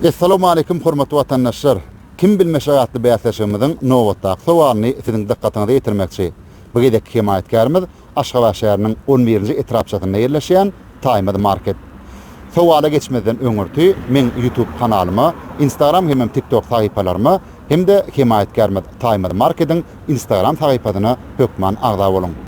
Essalamualeýkum hormatly watandaşlar! Kim bilmeşek atly bäsleşigimiziň nobatdaky sowalyny siziň dykgatyňyza ýetirmekçi. Bu gezekki hemaýatkärimiz Aşgabat şäheriniň on birinji etrapçasynda ýerleşýän Taýmaz market. Sowala geçmezden öňürti meň YouTube kanalyma, Instagram hemem TikTok sahypalaryma hem-de hemaýatkärimiz Taýmaz markediň Instagram sahypasyna hökman agza boluň!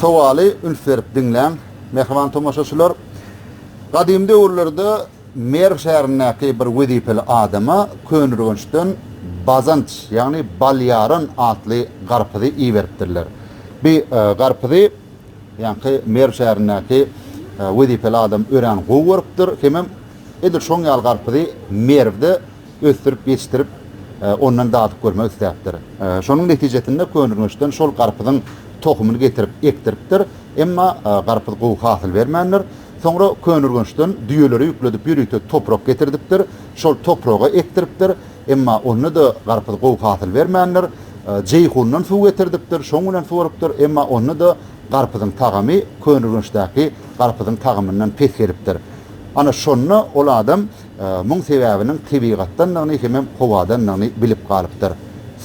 Sowaly üns berip diňläň, mähriban tomaşaçylar! Gadym döwürlerde Merw şäherindäki bir wezipeli adama Könürgençden Bazanç, ýagny Balýaran atly garpyzy iberipdirler. Bi garpyzy Ýaňky Merw şäherindäki wezipeli adam örän gowy görüpdir hemem edil şoň ýaly garpyzy Merwde ösdürip ýetişdirip, ondan dadyp görmek isläpdir. Şonuň netijesinde Könürgençden şol garpyzyň tohumyny getirip ekdiripdir, emma garpyz gowy hasyl bermändir. Soňra Könürgençden düýeleri ýükledip ýörite toprak getirdipdir, şol topraga ekdiripdir. Emma onda-da garpyz gowy hasyl bermändir. Jeýhundan suw getirdipdir, şoň bilen suwarypdyr, emma onda-da garpyzyň tagamy Köneürgençdäki garpyzyň tagamyndan pes gelipdir. Ana, şonda ol adam muň sebäbiniň tebigatdandygyny hemem howadandygyny bilip galypdyr.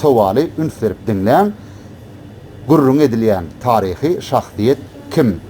Sowaly üns berip diňläň, Gürrüňi edilýän taryhy şahsyýet kim?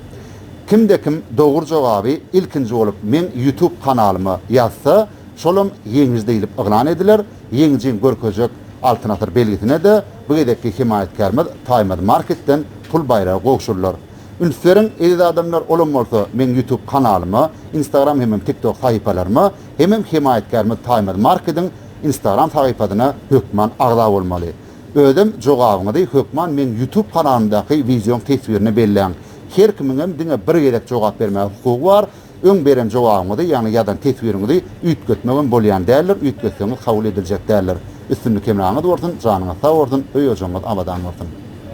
Kimde-kim dogry jogaby ilkinji bolup meň YouTube kanalyma ýazsa, Şolam ýeňiji diýlip yglan ediler. Ýeňijiň görkezjek Altyn asyr belgisine-de bu gezekki hemaýatkärimiz Taýmaz Marketden pul baýragy gowşurylar. Üns beriň, eziz adamlar, olam bolsa meň Ýutub kanalyma, Instagram hemem Tiktok sahypalaryma hemem hemaýatkärimiz Taýmaz Markediň Instagram sahypasyna hökman agza bolmaly. Özem jogabyňyzy hökman meň Ýutub kanalymdaky wideoň teswirine belläň. Her kimiňem diňe bir gezek jogap bermäge hukugy bar. Öň beren jogabyňyzy, ýagny ýazan teswiriňizi üýtgetmegem bolýan däldir, üýtgetseňiz kabul ediljek däldir. Üstünlik hemraňyz bolsun, janyňyz sag bolsun, öý-ojagyňyz abadan bolsun!